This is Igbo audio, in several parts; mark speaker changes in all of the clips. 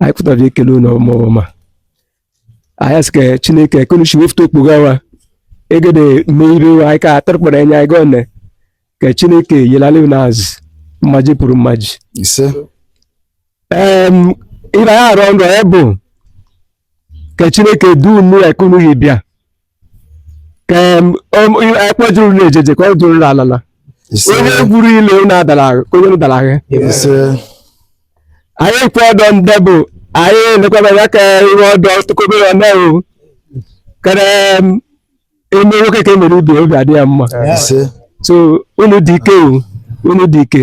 Speaker 1: anyị pụtara ekele unu ọvụma ọvụma anyị asị ka chineke eka unu shi wofụta okpoga wa egede mee ibe wa anyị ka atụrụkpara anya anyị gọọ nne ka chineke yelali unu azụ mmaji pụrụ mmaji ise em ibe anyị arọ nrọ ya bụ ka chineke duu unu eka unu shi bịa ekpejuru na ejeje ka ọ duru na alala onye gwuru ile unu adara ahụ ka onye unu dara ahụ anyị kwe ọdọ ndị bụ anyị elekwabara ka iwe ọdọ tụkọbere ọna ka e mee nwoke ka emere ibe obi adị ya mma so unu dị ike o unu dị ike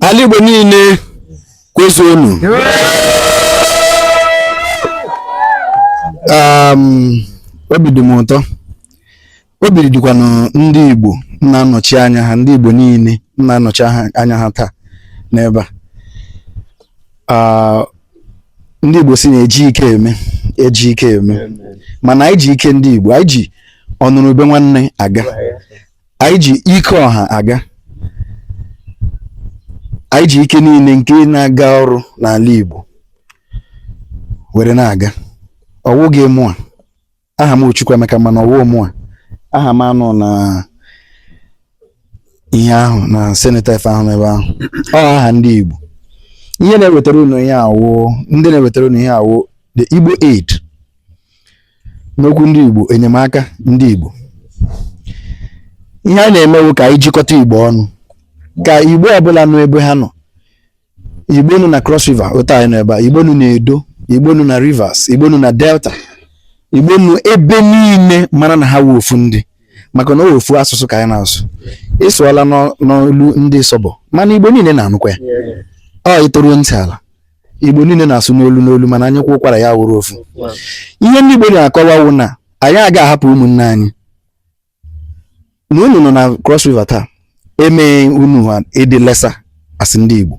Speaker 1: ala
Speaker 2: Igbo niile kwezuonu um, obi dị m ụtọ obi dịkwanụ ndị Igbo na-anọchi anya ha ndị Igbo niile na-anọchi anya ha taa n'ebe a ah, ndị Igbo sị na eji ike eme eji ike eme mana anyị ji ike ndị Igbo anyị ji ọnụrụ ube nwanne aga anyị ji ike ọha aga anyị ji ike niile nke na-aga ọrụ n'ala Igbo were na-aga ọwụghị mụa aha m Chukwuemeka mana ọwụ mụa aha m anọ na ihe ahụ na cenotaph ahụ n'ebe ahụ ọ aha ndị Igbo ihe na-ewetara unu ihe a wụ ndị na-ewetara unu ihe a wụ the Igbo Aid n'okwu ndị Igbo enyemaka ndị Igbo ihe a na-eme wụ ka anyị jikọta Igbo ọnụ ka Igbo ọbụla nọ ebe ha nọ Igbo nọ na Cross River otu anyị nọ ebe a Igbo nọ na Edo Igbo nọ na Rivers Igbo nọ na Delta Igbo nọ ebe niile mara na ha wụ ofu ndị maka na ọ wụ ofu asụsụ ka anyị na-asụ ị sụọla n'olu ndị Isobo mana Igbo niile na-anụkwa ya ọ ị tọrọ ntị ala igbo niile na-asụ n'olu n'olu mana anyị kwụkwara ya wụrụ ofu ihe ndị igbo na-akọwa wụ na anyị aga ahapụ ụmụnne anyị na unu nọ na cross river taa emee unu ha ị dị lesser asị ndị igbo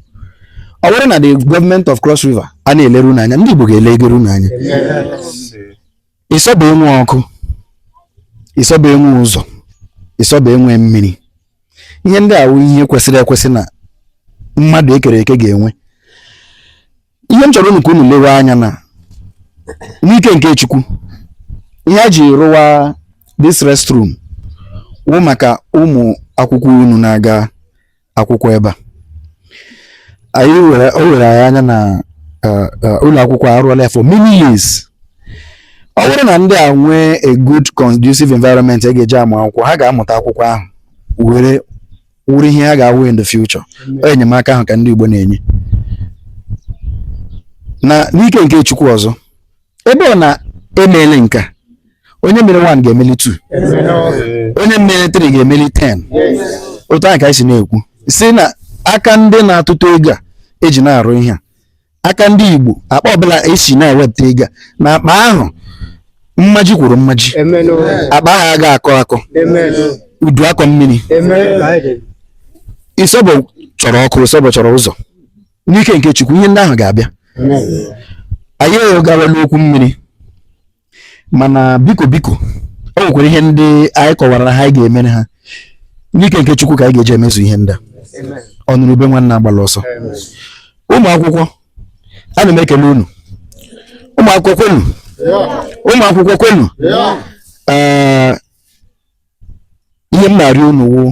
Speaker 2: ọ bụrụ na the government of cross river a na-elere unu anya ndị igbo ga-elegere unu anya Isobo enwe ọkụ Isobo enwe ụzọ Isobo enwe mmiri ihe ndị a wụ ihe kwesịrị ekwesị na mmadụ ekere eke ga-enwe ihe m chọrọ unu ka unu lewe anya na n'ike nke chukwu ihe a ji rụwa this restroom wụ maka ụmụ akwụkwọ unu na-aga akwụkwọ ebe a anyị were o were anyị anya na eh, eh, ụlọ akwụkwọ arụọla ya for many years ọ wụrụ na ndị a nwee a good conducive environment a ga-eji amụ akwụkwọ ha ga-amụta akwụkwọ ahụ were wụrụ ihe ha ga-awụ in the future ọ enyemaka ahụ ka ndị Igbo na-enye na n'ike nke Chukwu ọzọ ebe ọ na emeele nke a onye mere 1 ga-emeli 2 onye mere 3 ga-emeli 10 otu a ka anyị si na-ekwu sị na aka ndị na-atụtụ ego a eji na-arụ ihe a aka ndị Igbo akpa ọbụla e si na-ewepụta ego a na akpa ahụ mmaji kwuru mmaji akpa ahụ aga akọ akọ udu akọ mmiri Ịsọbọ chọrọ ọkụ Ịsọbọ chọrọ ụzọ n'ike nke Chukwu ihe ndị ahụ ga-abịa anyị gawala okwu mmiri mana biko biko o nwekwara ihe ndị anyị kọwaara ha anyị ga-emere ha n'ike nke Chukwu ka anyị ga-eji emezu ihe ndị a ọnụrụ ube nwanne agbala ọsọ ụmụ akwụkwọ ana m ekele unu ụmụ akwụkwọ kwenu ụmụ akwụkwọ kwenu ee ihe m na-arịọ unu wụ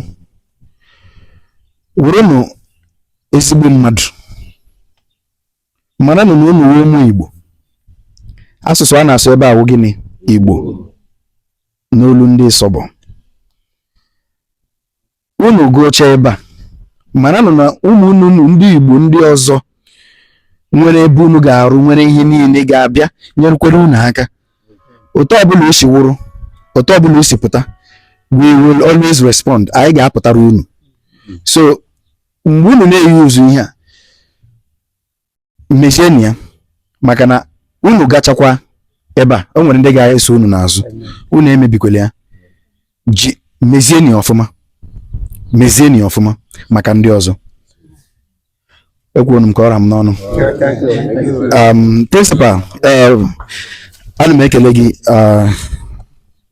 Speaker 2: wụrụnụ ezigbo mmadụ maranụ na unu wụ ụmụ Igbo asụsụ a na-asụ ebe a wụ gịnị Igbo n'olu ndị Ịsọbọ unu gụchaa ebe a maranụ na ụmụnne unu ndị Igbo ndị ọzọ nwere ebe unu ga-arụ nwere ihe niile ga-abịa nyerekwere unu aka otu ọbụla o si wụrụ otu ọbụla o si pụta we will always respond anyị ga-apụtara unu so mgbe unu na-eyuzu ihe a mezienụ ya maka na unu gachakwa ebe a o nwere ndị ga-eso unu n'azụ unu emebikwele ya ji mezienụ ya ọfụma mezienụ ya ọfụma maka ndị ọzọ ekwuonu m ka ọ ra m n'ọnụ um, principal eh, ana m ekele gị ah,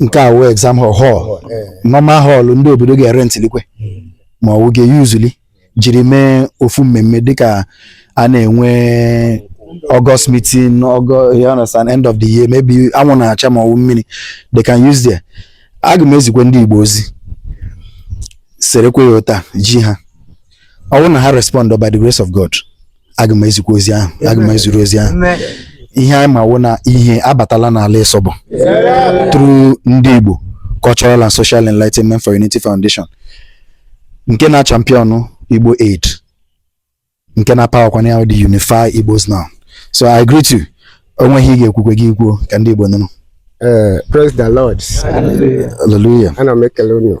Speaker 2: nke a wụ exam hall hall normal hall ndị obodo ga-erentịlikwe ma ọ wụ ga-eyuzuli jiri mee ofu mmemme dịka a na-enwe August meeting August you understand end of the year maybe anwụ na-acha ma ọ wụ mmiri they can use there aga m ezikwe ndị Igbo ozi serekwe ya ụta ji ha ọ wụ na ha respond by the grace of God aga m ezikwa ozi ahụ aga m eziru ozi ahụ ihe anyị ma wụ na ihe abatala n'ala Ịsọbọ through ndị Igbo Cultural and Social Enlightenment for Unity Foundation nke na champion Igbo Aid nke na powerkwana the Unify Igbos Now so I greet you o nwee ihe ị ga-ekwukwe gị ekwuo ka ndị Igbo nụrụ eh, Praise the
Speaker 3: Lord. Hallelujah.
Speaker 2: Ana m ekele
Speaker 3: unu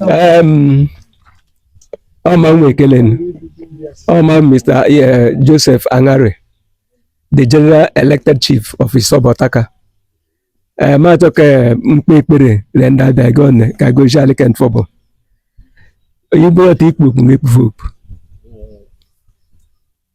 Speaker 1: Um, Oma Nwekelen, Oma Mr. Yeah, Joseph Angare, the general elected chief of Isobo Otaka. Eh, ma achọ ka m kpee ekpere le ndị abịa gị ọnụ ka gọzie alị ke Ntsobo onye bụrụ ọta ikpu okpu na-ekpufe okpu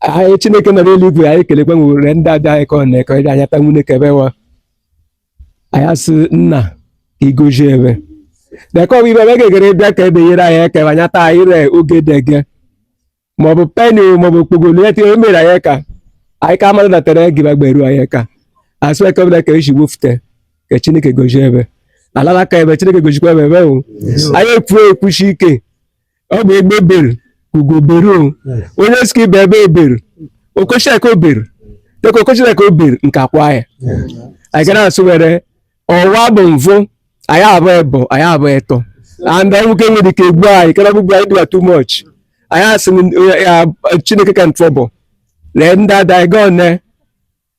Speaker 1: anyị Chineke nọ n'eluigwe anyị ekelekwa nwere ndị abịa anyị ka ọ na-ekọ ịbịa anya ta nwunye kebe wa anyị asị nna ka ị gọzie ebe deka ọbụ ibe ebe gegere bịa ka ebe nyere anyị eke anya taa anyị re oge dege ma ọ bụ peni ma ọ bụ okpogolo ya tinye mere anyị ka anyị ka amadụ natara gị bagba eru anyị ka asị eke ọbụla ka eji wofute ka Chineke gọzie ebe alala ka ebe Chineke gọzikwa ebe ebe o anyị ekwuo ekwushi ike ọ bụ egbe beru ugo beru o onye sị ka ibe ebe eberu o koshi eka o beru teke o koshi eka o beru nku kwaa ya anyị gara asụ were ọwa bụ mvụ anyị abụ ebo anyị abụ eto and nwoke nwere ike egbu anyị kara gbugbu anyị dịwa too much anyị asị na, eh, ya, Chineke ke Ntsobo lee ndị ada anyị gaa one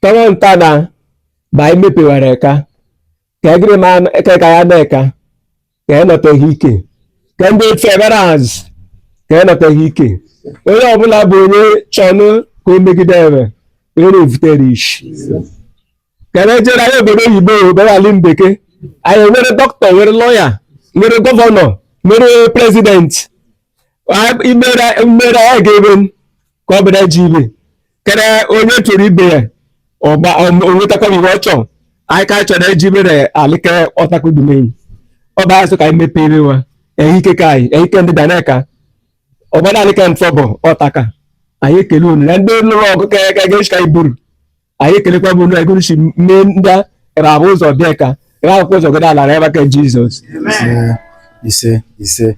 Speaker 1: tọrọ nta na ma anyị mepewara eka ka egirima ka ka ya na-eka ka ya nọtaghị ike ka ndị otu ebere azụ ka ya nọtaghị ike onye ọbụla bụ onye chọnụ ka o megide ebe onye na-evutere ishi ka na-ejere anyị obodo oyibo obere ala mbeke anyị nwere doctor nwere lawyer nwere governor nwere president imere mmere anyị ga-ebe ka ọ bụla ji ibe kere onye chọrọ ibe ya ọgba onwetakwa iwe ọ chọrọ anyị ka chọrọ eji mere alị ke ọtakudumeyi ọ bụ asụ ka anyị mepee ebe wa ehike ka anyị ehike ndị danaka ọgbada alị ke Ntsobo Otaka anyị ekele unu na ndị lụrụ ọgụ ka ga-eji ka anyị buru anyị ekelekwa bụ na egosi mme ndị rabụ ụzọ bịa ka ra akwụkwọ ụzọ gada alara ebe ke Jizọs Ise, ise,
Speaker 2: ise.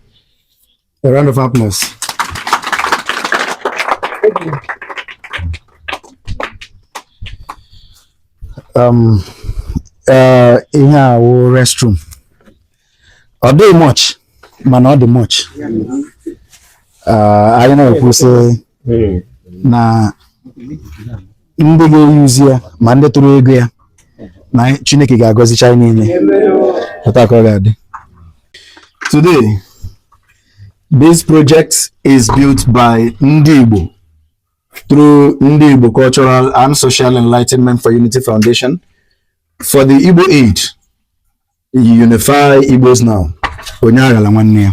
Speaker 2: A round of applause. Um, uh, ihe a wụ restroom. Ọ dịghị much, mana ọ dị much. Uh, anyị na-ekwu sị hmm. na ndị ga-eyuzi ya ma ndị tụrụ ego ya na Chineke ga-agọzicha anyị niile otu ka ọ ga-adị today this project is built by ndị Igbo through ndị Igbo Cultural and Social Enlightenment for Unity Foundation for the Igbo Aid You unify Igbos now. Onye aghala nwanne ya.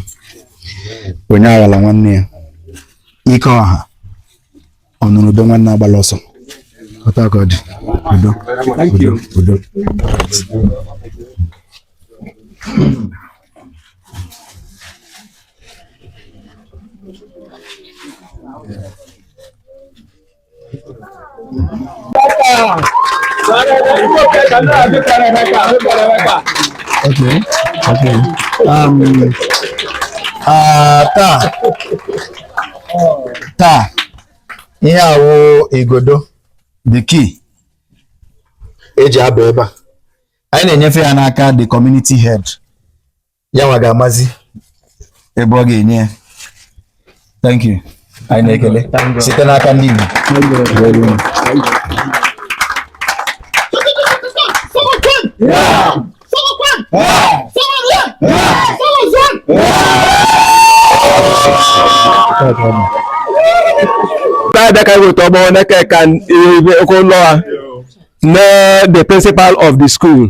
Speaker 2: Onye aghala nwanne ya. Ike ọha. Ọnụrụ ube nwanne agbala ọsọ. Otu a ka ọ dị. Udo. Udo. Udo. Yeah. taa taa ihe a wụ igodo the key eji aba ebe a anyị na-enyefe ya n'aka the community head ya nwa ga-amazi ebe ọ ga-enye ya thank you anyị na-ekele site n'aka ndị Igbo
Speaker 1: Father Kaiwo Tomo Neke can Okonloa, the principal of the school.